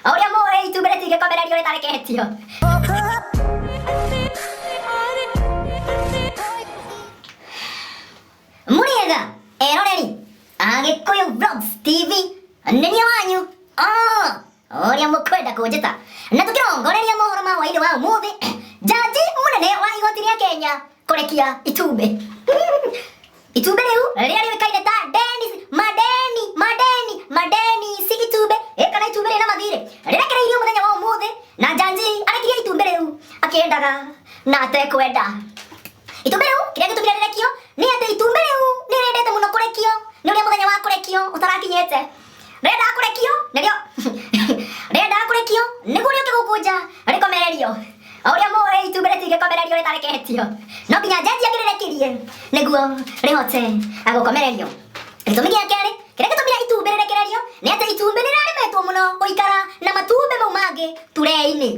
O ũrĩa mũĩ itumbĩ rĩtingĩkomererio rĩtareketio. Mũrĩega eroreri Agĩkũyũ Vlogs TV nĩ niĩ wanyu Ah, ũrĩa mũkwenda kũnjĩta na tũkĩrongoreria mohoro ma hwainĩ wa ũmũthĩ jaji mũnene wa igoti rĩa Kenya Kũrekia itumbĩ. Itumbĩ rĩu rĩrĩa rĩũĩkaine ta Dennis Madeni Madeni Madeni si itumbĩ ĩ kana itumbĩ rĩna mathirĩ rĩrekereirio mũthenya wa ũmũthĩ na Janji arekirie itumbĩ rĩu akĩendaga na atekwenda. Itumbĩ rĩu kĩrĩa gĩtũmire rĩrekio nĩ atĩ itumbĩ rĩu nĩ rĩendete mũno kũrekio nĩ ũrĩa mũthenya wa kũrekio ũtarakinyĩte. rĩenda kũrekio nĩrĩo rĩenda kũrekio nĩguo rĩũke gũkũnja rĩkomererio o ũrĩa mũĩ itumbĩ rĩtingĩkomererio rĩtareketio no nginya njenjia ngĩrĩrekirie nĩguo rĩhote gũkomererio gĩtũmi gĩa kerĩ kĩrĩa gĩtũmire itumbĩ rĩrekererio nĩ atĩ itumbĩ nĩrĩraremetwo mũno gũikara na matumbĩ mau mangĩ turee-inĩ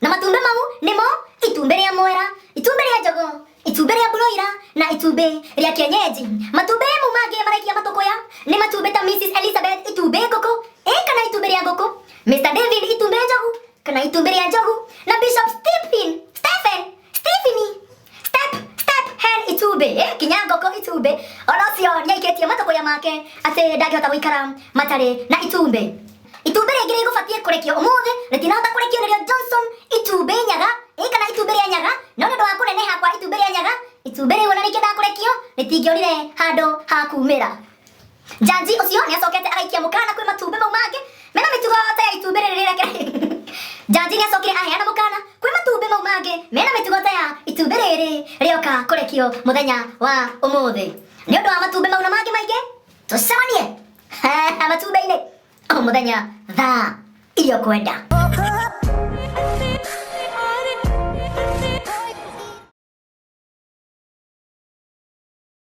na matumbĩ mau nĩmo itumbĩ rĩa mwera itumbĩ rĩa njogo itumbĩ rĩa broira na itumbĩ rĩa kienyeji matumbĩ mau mangĩ maraikia matũkũya nĩ matumbĩ ta mrs elizabeth itumbĩ ngũkũ ĩ kana itumbĩ rĩa ngũkũ mr david itumbĩ njogu kana itumbĩ rĩa njogu na bishop stephen stephen Stephen, step, step, hen itumbĩ. Eh, kinya ngoko itumbĩ. Ona ũcio nĩaikĩtie matũkũya make atĩ ndangĩhota gũikara matarĩ na itumbĩ. Itumbĩ rĩngĩ rĩgũbatiĩ kũrekio ũmũthĩ rĩtinahota kũrekio nĩrĩo Johnson itumbĩ nyaga ĩ kana itumbĩ rĩa nyaga no nĩ ũndũ wa kũneneha kwa itumbĩ rĩa nyaga itumbĩ rĩu ona rĩkĩendaga kũrekio rĩtingĩonire handũ ha kumĩra. Njanji ũcio nĩ acokete agaikia mũkana kwĩ matumbĩ mau mangĩ mena mĩtugo ta ya itumbĩ rĩrĩ rĩrĩa kĩra Njanji nĩ acokire aheana mũkana kwĩ matumbĩ mau mangĩ mena mĩtugo ta ya itumbĩ rĩrĩ rĩoka kũrekio mũthenya wa ũmũthĩ nĩ ũndũ wa matumbĩ mau na mangĩ maingĩ tũcemanie matumbĩ-inĩ o mũthenya thaa iria ũkwenda